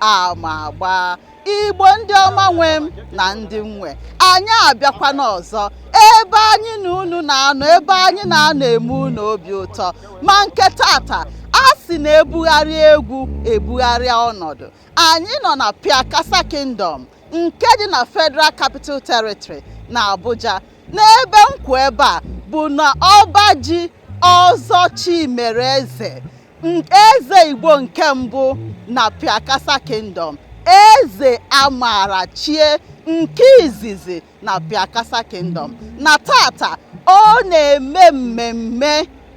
ama agba igbo ndị ọma nwe m na ndị nwe anyị abịakwana ọzọ ebe anyị na unu na-anọ ebe anyị na-anọ eme unu obi ụtọ ma nke tata a sị na ebugharị egwu ebugharịa ọnọdụ anyị nọ na Pyakasa Kingdom nke dị na Federal Capital Territory na Abuja n'ebe nkwu ebe a bụ na ọba ji ọzọ Chimereze eze igbo nke mbụ na pyakasa kingdom eze amara chie nke izizi na pyakasa kingdom na tata ọ na-eme mmemme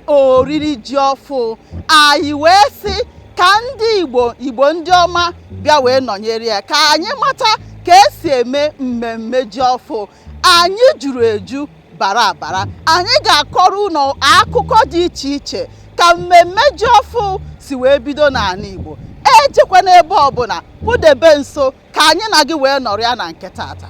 oriri ji ọfụ anyị wee sị ka ndị igbo igbo ndị ọma bịa wee nọnyere ya ka anyị mata ka esi eme mmemme ji ọfụ anyị juru eju bara abara anyị ga-akọrọ unu akụkọ dị iche iche ka mmemme ji ọfụ si wee bido n'anị Igbo ejekwana ebe ọbụna kpụdebe nso ka anyị na gị wee nọrịa na nke tata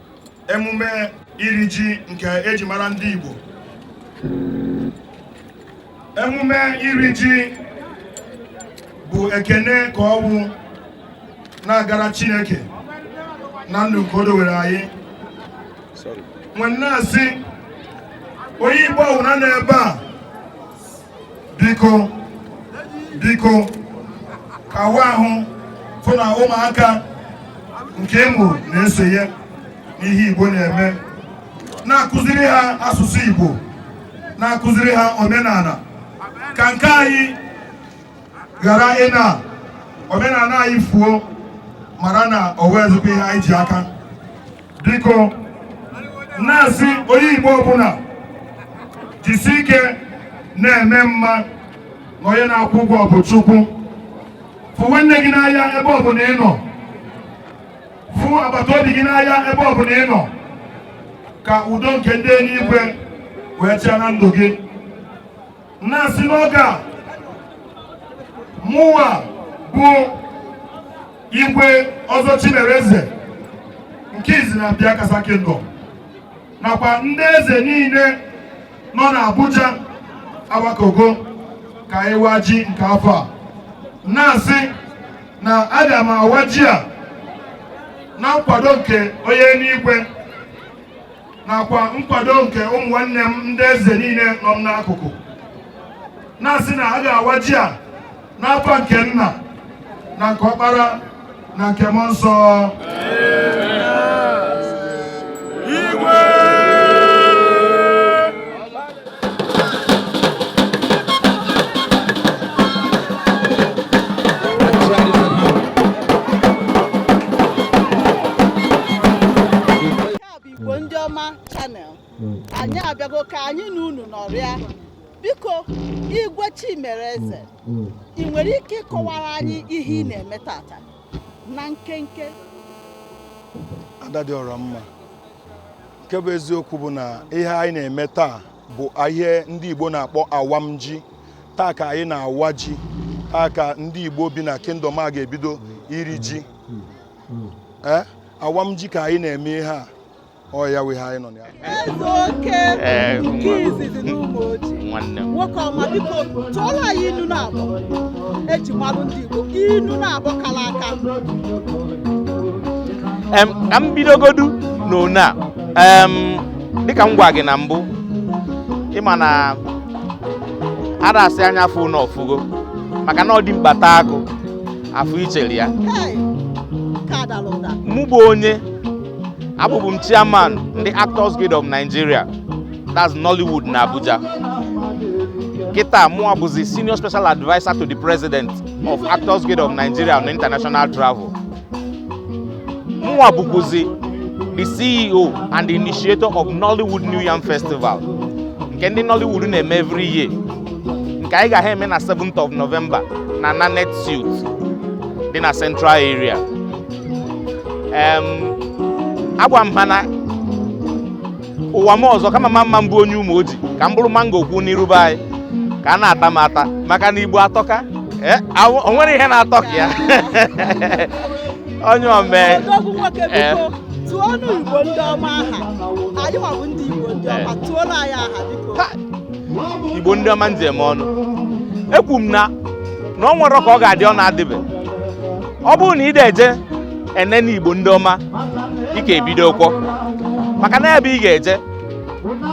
emume iri ji nke eji mara ndị Igbo emume iri ji bụ ekene ka ọ wụ na-agara Chineke na ndụ nke o dowere anyị m wee na-asị onye Igbo ọwụna nọ ebe a biko biko kawa ahụ fụ na ụmụaka nke ị mụ na-esonye n'ihe Igbo na-eme na-akụziri ha asụsụ Igbo na-akụziri ha omenala ka nke anyị ghara ịna omenala anyị fuo mara na o nwezighị ihe anyị ji aka biko na-asị onye Igbo ọbụna jisi ike na-eme mma na onye na-akwụ ụgwọ bụ Chukwu fụ nwanne gị n'anya ebe ọbụna ị nọ fụ agbata obi gị n'anya ebe ọbụna ị nọ ka udo nke ndị eluigwe wee chịa na ndụ gị na-asị n'oge a mụwa bụ igwe ọzọ Chimereze nke izizi na Pyakasa kingdom nakwa ndị eze niile nọ n'Abuja agbakọgo ka ịwa ji nke afọ a na-asị na aga m awa ji a na nkwado nke onye n'igwe nakwa nkwado nke ụmụ nwanne m ndị eze niile nọ m n'akụkụ na-asị na a ga-awa ji a n'afa nke nna na nke ọkpara na nke mmụọ nsọ Igbo ndị ọma channel hmm. anyị abịago ka anyị na unu nọrịa biko igwe Chimereze hmm. hmm. ị nwere ike ịkọwara anyị ihe ị na-eme taata na nkenke ada dị ọra mma nke bụ eziokwu bụ na ihe anyị na-eme taa bụ ihe ndị Igbo na-akpọ awa m ji taa ka anyị na-awa ji taa ka ndị Igbo bi na kingdom a ga-ebido iri ji hmm. eh, awa m ji ka anyị na-eme ihe a ọ ya wụ ihe anyị nọ na ya eh, nke izizi n'Ụmụoji nwoke ọma biko tụọrọ anyị inu naabọ e ji mmanụ ndị Igbo inu naabọ kala aka ka m bidogodu n'one a dịka m gwa gị na mbụ ị ma na a da-asị anya fụ na ọ fụgo maka na ọ dị mkpa taa agụ afọ ichere ya mụ bụ onye abụbụ m chairman ndị Actors Guild of Nigeria that's Nollywood na Abuja kịta mụwa bụzi senior special adviser to the president of Actors Guild of Nigeria on international travel mụwa bụkwụzi the CEO and the initiator of Nollywood New Yam Festival nke ndị Nollywood na-eme every year nke anyị ga-ha eme na 7th of November na Nanet Suite dị na Central Area agwa m ha na ụwa m ọzọ kama ma mma m bụ onye Ụmụoji ka m bụrụ mango kwụ n'iru be anyị ka a na-ata m ata maka na Igbo atọka eh, o nwere ihe na-atọ ka ya onye omee tụọnụ Igbo ndị ọma aha anyịnwa bụ ndị Igbo ndị ọma tụọnụ anyị aha biko igbo ndị ọma m ji eme ọnụ ekwu m na na o nwere ka ọ ga-adị ọ na-adịbe ọ bụrụ na ị da-eje enene igbo ndị ọma ị ka ebido ụkwọ maka na ebe ị ga-eje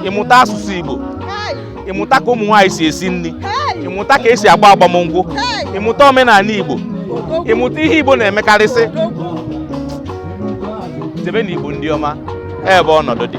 ịmụta asụsụ igbo ịmụta ka ụmụ nwaanyị si esi nni ịmụta ka e si agba agbamnkwụ ịmụta omenanị igbo ịmụta ihe igbo na-emekarịsị jebe na igbo ndị ọma ebe ọnọdụ dị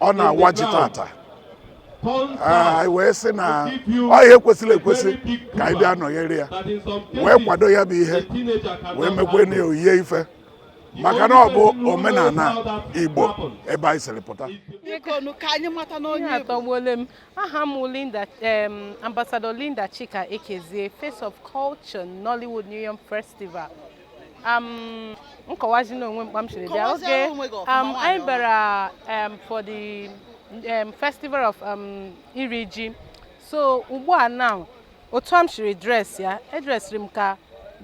ọ na-awa ji tata anyị wee sị na ọ ihe kwesịrị ekwesị ka anyị bịa nọnyere ya wee kwado ya bụ ihe wee mekwe na oyiye ife maka na ọ bụ omenala igbo ebe anyị siri pụta atọgbuole m aha m Linda ambassador Linda Chika Ekezie face of culture Nollywood New Yam Festival um, nkọwazi n'onwe m kpa m siri bịa oge um, anyị bịara um, for the um, festival of um, iri ji so ugbu a now otu a m siri dress ya edresịrị m ka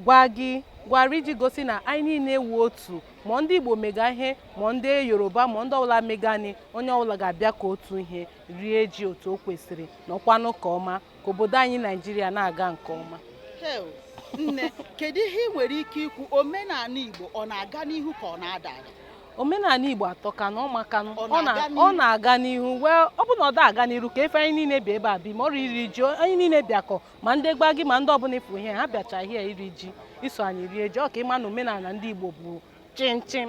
Gbagyi Gwari iji gosi na anyị niile wụ otu ma ndị Igbo mega ihe ma ndị Yoruba ma ndị ọbụla megani onye ọbụla ga-abịa ka otu ihe rie ji otu o kwesịrị n'ọkwanụ ka ọma ka obodo anyị naijiria na-aga nke ọma nne kedu ihe ị nwere ike ikwu omenala igbo ọ na-aga n'ihu ka ọ na-ada ada omenala igbo atọkanụ ọ makanụ ọ na-aga n'ihu wee ọ bụ na ọ da aga n'iru ka efe anyị niile bịa ebe a bi ma oriri ji anyị niile bịakọ ma ndị Gbagyi ma ndị ọbụla ị fụ ihe ha bịacha ihe iri ji iso anyị rie ji ọ ka ị ma na omenala ndị igbo bụ chịm chịm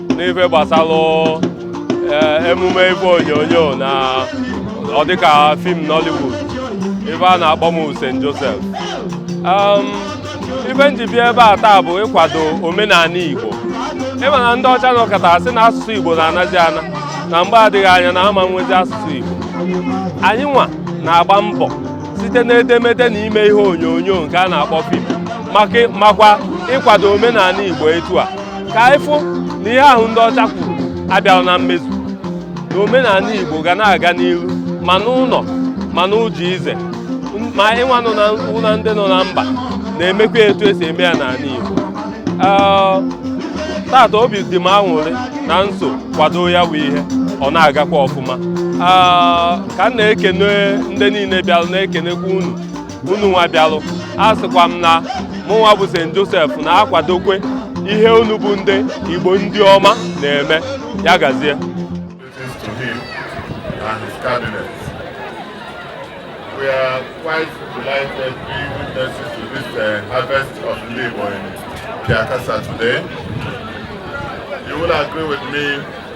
n'ife gbasalụ eh, emume ife onyonyo na ọ dịka fim Nollywood ife a na-akpọ m bụ St. Joseph um, ife m ji bịa ebe a taa bụ ịkwado omenala Igbo ị ma na ndị ọcha nọkata sị na asụsụ Igbo na-anazi ana na mgbe adịghị anya na a ma nwezi asụsụ Igbo anyị nwa na-agba mbọ site n'edemede na ime ihe onyonyo nke a na-akpọ fim makwa ịkwado omenala Igbo etu a ka anyị fụ na ihe ahụ ndị ọcha kwuru abịarọ na mmezu na omenala Igbo ga na-aga n'ihu ma n'ụlọ ma n'ụzọ ije ma anyị nwa nọ na nso na ndị nọ na mba na-emekwa etu e si eme ya n'ala Igbo tata obi dị m aṅụrị na m so kwado ya bụ ihe ọ na-agakwa ọfụma ka m na-ekene ndị niile bịara na-ekenekwa unu unu nwa bịalụ asịkwa m na mụnwa bụ St. Joseph na-akwadokwe ihe unu bụ ndị Igbo ndị ọma na-eme ya gazie We are quite delighted to be witnesses to this uh, harvest of labor in Piakasa today. You will agree with me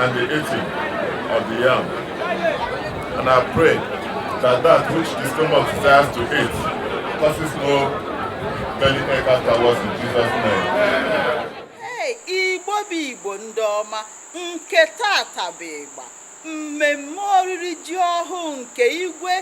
and the eating of the yam. And I pray that that which the stomach desires to eat causes no belly ache afterwards in Jesus' name. Hey, Igbo bụ Igbo ndị ọma nke tata bụ ịgba mmemme oriri ji ọhụụ nke igwe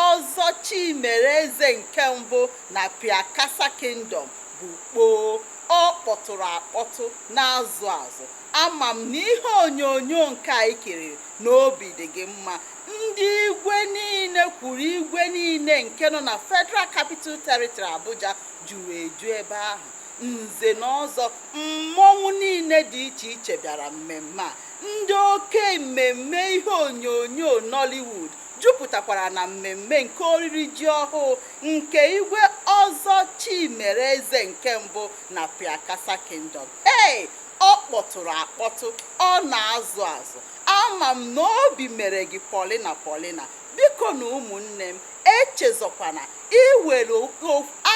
Ọzọ Chimereze nke mbụ na Piakasa Kingdom bụ kpoo ọ kpọtụrụ akpọtụ na-azụ azụ, ama m na ihe onyonyo nke a i kiriri na obi dị gị mma. Ndị igwe niile kwuru igwe niile nke nọ na Federal Capital Territory Abuja juru eju ebe ahụ. Nze na ọzọ, mmọnwụ niile dị iche iche bịara mmemme a. Ndị oke mmemme ihe onyonyo Nollywood jupụtakwara na mmemme nke oriri ji ọhụụ nke Igwe Ọzọ Chimereze nke mbụ na Pyakasa Kingdom. Ee, ọ kpọtụrụ akpọtụ, ọ na-azụ azụ. Ama m na obi mere gị pọlịna pọlịna. Bikonu ụmụnne m, echezọkwana iwere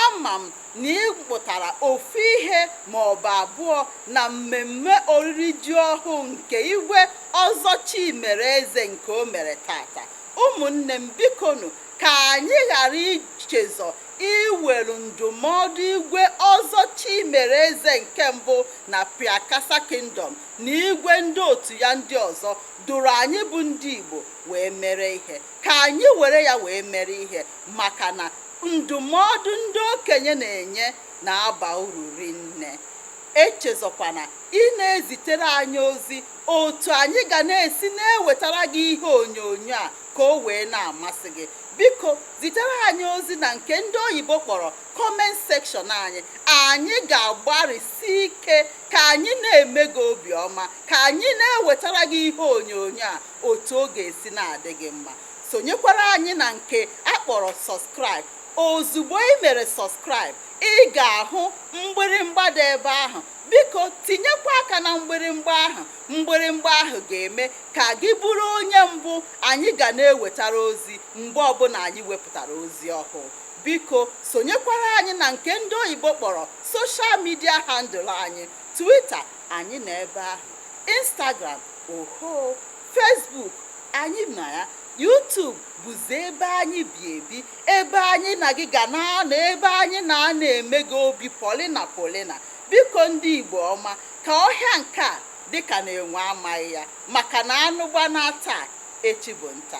ama m na ị mụtara ofu ihe ma ọ bụ abụọ na mmemme oriri ji ọhụụ nke Igwe Ọzọ Chimereze nke o mere taata. Ụmụnne m, bikonu ka anyị ghara ichezọ iwere ndụmọdụ Igwe Ọzọ Chimereze nke Mbụ na Pyakasa Kingdom na igwe ndị otu ya ndị ọzọ dụrụ anyị bụ ndị Igbo wee mere ihe. Ka anyị were ya wee mere ihe maka na ndụmọdụ ndị okenye na-enye na-aba uru rinne. Echezọkwana ịna-ezitere anyị ozi otu anyị ga na-esi na-ewetara gị ihe onyonyo a ka o wee na-amasị gị. Biko zitere anyị ozi na nke ndị oyibo kpọrọ comment section anyị anyị ga-agbarịsi ike ka anyị na-eme gị obiọma ka anyị na-ewetara gị ihe onyonyo a otu ọ ga-esi na-adị gị mma sonyekwara anyị na nke a kpọrọ subscribe ozugbo i mere subscribe ị ga-ahụ mgbịrịmgba dị ebe ahụ biko tinyekwa aka na mgbịrịmgba ahụ mgbịrịmgba ahụ ga-eme ka gị bụrụ onye mbụ anyị ga na-ewetara ozi Mgbe ọbụla anyị wepụtara ozi ọhụụ, biko sonyekwara anyị na nke ndị oyibo kpọrọ social media handle anyị, Twitter, anyị nọ ebe ahụ, Instagram, ohoo, Facebook, anyị nọ ya, YouTube bụzi ebe anyị bi ebi, ebe anyị na gị ga na-anọ, ebe anyị na a na-eme gị obi pọlịna pọlịna. Biko ndị Igbo ọma, ka ọhịa nke a dị ka na enwe amaghị ya, maka na anụ gbanaa taa, echi bụ nta.